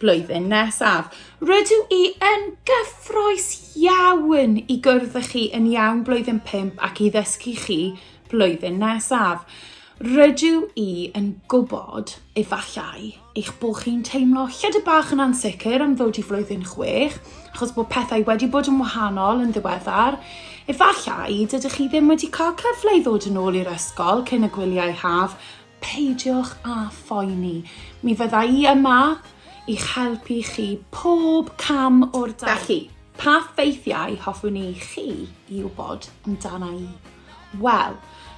blwyddyn nesaf. Rydw i yn gyffroes iawn i gwrdd â chi yn iawn blwyddyn 5 ac i ddysgu chi blwyddyn nesaf. Rydw i yn gwybod, efallai, eich bod chi'n teimlo lledu bach yn ansicr am ddod i flwyddyn 6, achos bod pethau wedi bod yn wahanol yn ddiweddar. Efallai, dydych chi ddim wedi cael cyfle i ddod yn ôl i'r ysgol cyn y gwyliau haf, Peidiwch â phoeni, mi fydda i yma i'ch helpu chi pob cam o'r daith. Felly, pa ffeithiau hoffwn i chi i wybod amdana i? Wel,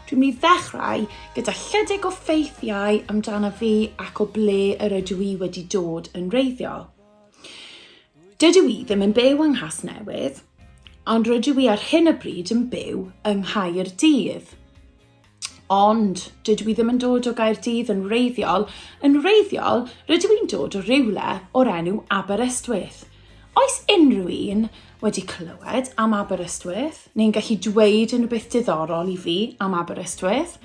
dwi'n mynd i ddechrau gyda chydig o ffeithiau amdana fi ac o ble yr ydw i wedi dod yn reiddiol. Dydw i ddim yn byw yng Nghasnewydd, ond rydw i ar hyn o bryd yn byw yng Nghaerdydd. ond dydw i ddim yn dod o Gaerdydd yn wreiddiol, yn wreiddiol rydw i'n dod o rywle o'r enw Aberystwyth. Oes unrhyw un wedi clywed am Aberystwyth neu'n gallu dweud unrhywbeth diddorol i fi am Aberystwyth?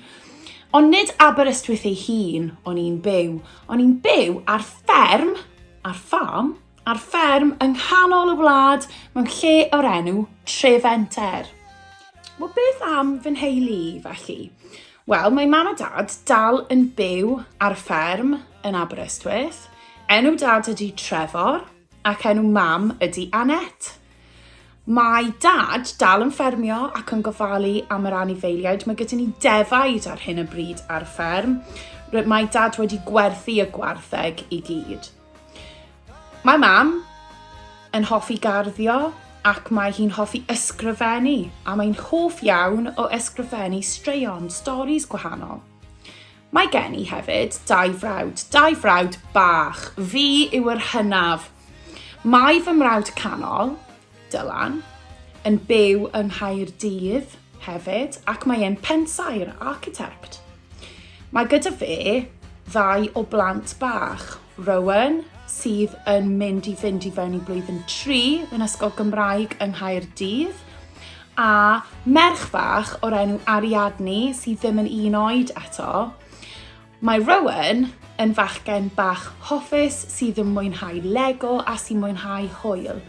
Ond nid Aberystwyth ei hun o'n i'n byw, o'n i'n byw ar fferm, ar farm, ar fferm yng nghanol y wlad mewn lle o'r enw Trefenter. Wel, beth am fy nheulu i, felly? Wel, mae mam a dad dal yn byw ar y fferm yn Aberystwyth. Enw dad ydy Trefor ac enw mam ydy Annette. Mae dad dal yn ffermio ac yn gofalu am yr anifeiliaid. Mae gyda ni defaid ar hyn o bryd ar y fferm. Mae dad wedi gwerthu y gwartheg i gyd. Mae mam yn hoffi garddio ac mae hi'n hoffi ysgrifennu a mae'n hoff iawn o ysgrifennu straeon, storis gwahanol. Mae gen i hefyd dau frawd, dau frawd bach, fi yw yr hynaf. Mae fy mrawd canol, Dylan, yn byw yng Nghaerdydd hefyd ac mae e'n pensaer, architect. Mae gyda fe ddau o blant bach, Rowan, sydd yn mynd i fynd i fewn i blwyddyn 3 yn Ysgol Gymraeg yng Nghaerdydd, a merch fach o'r enw Ariadne sydd ddim yn un oed eto. Mae Rowan yn fachgen bach hoffus sydd yn mwynhau Lego a sy'n mwynhau hwyl.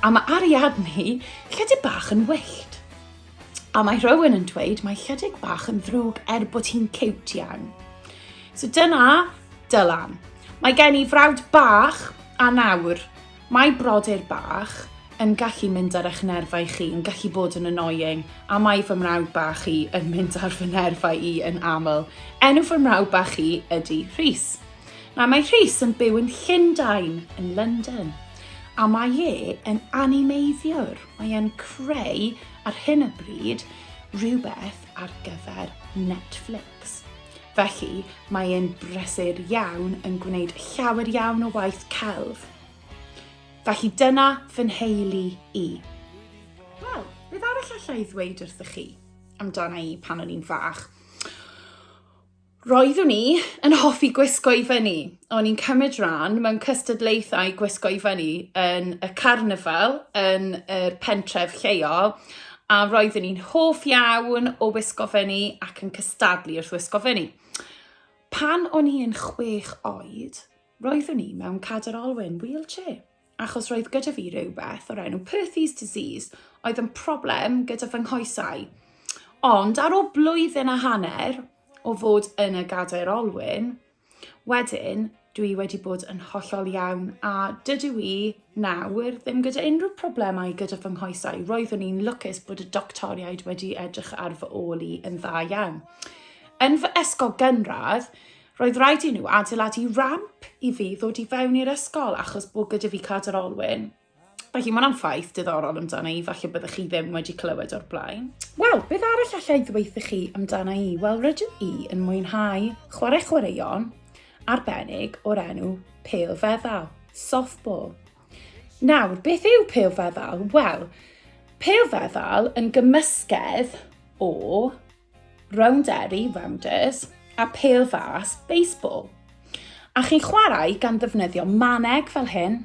A mae Ariadne lledig bach yn wyllt. A mae Rowan yn dweud mae lledig bach yn ddrwg er bod hi'n ciwt iawn. So dyna Dylan. Mae gen i frawd bach a nawr Mae brodyr bach yn gallu mynd ar eich nerfau chi, yn gallu bod yn annoying, a mae fy mrawd bach i yn mynd ar fy nerfau i yn aml. Enw fy mrawd bach chi ydy Rhys. Na, mae Rhys yn byw yn Llundain, yn London, a mae e yn animeiddiwr. Mae e'n creu ar hyn o bryd rhywbeth ar gyfer Netflix. Felly, mae e'n brysur iawn yn gwneud llawer iawn o waith celf. Felly dyna fy nheulu i. Wel, beth arall allai ddweud wrthych chi amdana i pan o'n i'n fach? Roeddwn i yn hoffi gwisgo i fyny. o'n i'n cymryd rhan mewn cystadlaethau gwisgo i fyny yn y carnifal yn yr pentref lleol a roeddwn i'n hoff iawn o wisgo fyny ac yn cystadlu wrth wisgo fyny. Pan o'n i'n chwech oed, roeddwn i mewn cadr olwyn, wheelchair, achos roedd gyda fi rhywbeth o'r enw Perthes disease oedd yn problem gyda fy nghoesau. Ond ar ôl blwyddyn a hanner o fod yn y gadair olwyn, Wedyn, dw i wedi bod yn hollol iawn a dydw i nawr ddim gyda unrhyw problemau gyda fy nghoesau. Roeddwn i'n lwcus bod y doctoriaid wedi edrych ar fy ôl i yn dda iawn. Yn fy ysgol gynradd, roedd rhaid i nhw adeiladu ramp i fi ddod i fewn i'r ysgol achos bod gyda fi cadr olwyn. Felly mae'n anfaith diddorol amdana i, falle byddwch chi ddim wedi clywed o'r blaen. Wel, beth arall allai ddweithio chi amdana i? Wel, rydw i yn mwynhau chwarae chwaraeon arbennig o'r enw pel feddal, softball. Nawr, beth yw pel feddal? Wel, pel feddal yn gymysgedd o rowndery, rounders, a pel fas, baseball. A chi'n chwarae gan ddefnyddio maneg fel hyn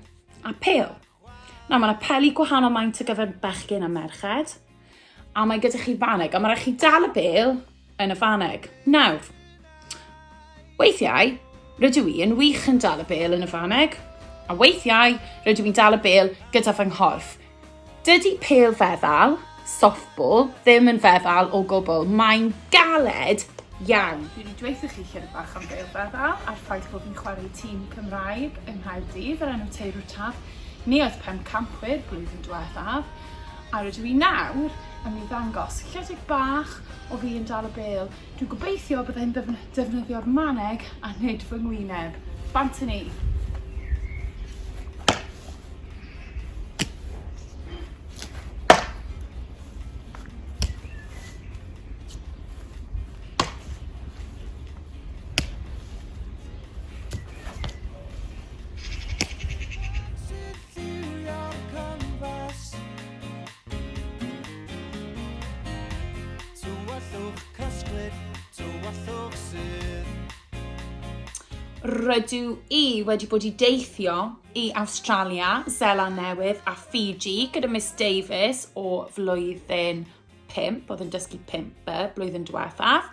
a pel. Na, mae yna peli gwahanol maint o gyfer bechgyn a merched, a mae gyda chi faneg, a mae rhaid chi dal y bel yn y faneg. Nawr, Weithiau, rydw i yn wych yn dal y bel yn y faneg, a weithiau rydw i'n dal y bel gyda fy nghorff. Dydy pel feddal, softball, ddim yn feddal o gwbl, mae'n galed iawn. Dwi wedi dweithio chi chydig bach am bel feddal a'r ffaith bod fi'n chwarae tîm Cymraeg yng Nghaerdydd yr enw Teirw Taf. Ni oedd pem campwyr blwyddyn diwethaf, a rydw i nawr yn mynd i ddangos chydig bach o fi yn dal y bel Dwi'n gobeithio bydda i'n defnyddio'r maneg a nid fy ngwyneb. Bant yn ei! Tywyllwch cysglyd, tywyllwch sydd. Rydw i wedi bod i deithio i Awstralia, Zeland Newydd a Fiji gyda Miss Davies o flwyddyn 5, oedd yn dysgu 5 y blwyddyn diwethaf.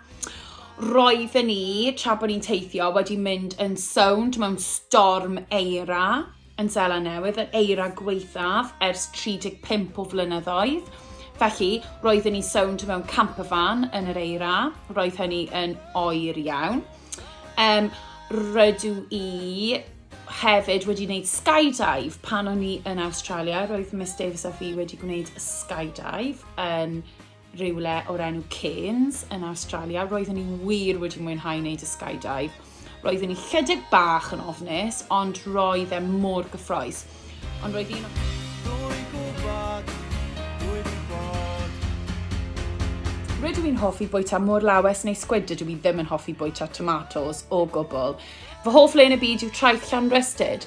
Roedden ni, tra bod ni'n teithio, wedi mynd yn sownd mewn storm eira. yn Seland Newydd, yr eira gwaethaf ers 35 o flynyddoedd. Felly, roeddwn i'n sownd mewn campervan yn yr eira. Roedd hynny yn oer iawn. Um, rydw i hefyd wedi gwneud skydive pan o'n i yn Australia. Roedd Miss Davis a fi wedi gwneud skydive yn rywle o'r enw Cairns yn Awstralia. Roeddwn i wir wedi mwynhau wneud y skydive. Roeddwn i chydig bach yn ofnus, ond roedd e mor gyffroes. Ond roedd un o... Rydw i'n hoffi bwyta mor lawes neu sgwid, dydw i ddim yn hoffi bwyta tomatos o gwbl. Fy hoff le yn y byd yw traeth Llanrystud.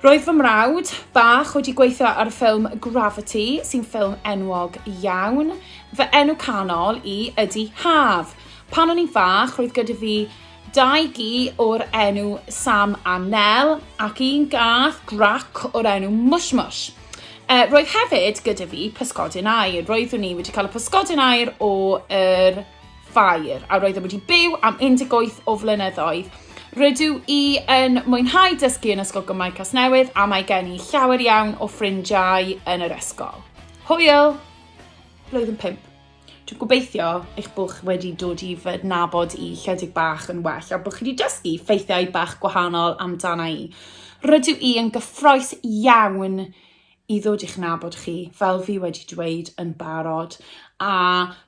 Roedd fy mrawd bach wedi gweithio ar ffilm Gravity, sy'n ffilm enwog iawn. Fy enw canol i ydy Haf. Pan o'n i'n fach, roedd gyda fi dau gi o'r enw Sam a Nel ac un gath grac o'r enw Mush Mush. Uh, roedd hefyd gyda fi pysgodyn air. Roeddwn ni wedi cael y pysgodyn air o'r er Ffair, a roeddem wedi byw am 18 o flynyddoedd. Rydw i yn mwynhau dysgu yn Ysgol Gymraeg Casnewydd a mae gen i llawer iawn o ffrindiau yn yr ysgol. Hwyl! Blwyddyn 5. Dwi'n gobeithio eich bod chi wedi dod i fy nabod i lledig bach yn well a bod chi wedi dysgu ffeithiau bach gwahanol amdana i. Rydw i yn gyffroes iawn i ddod i'ch nabod chi, fel fi wedi dweud yn barod, a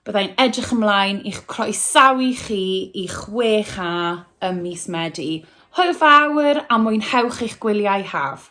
byddai'n edrych ymlaen i'ch croesawu chi i 6A ym mis Medi. Hwyl fawr a mwynhewch eich gwyliau haf!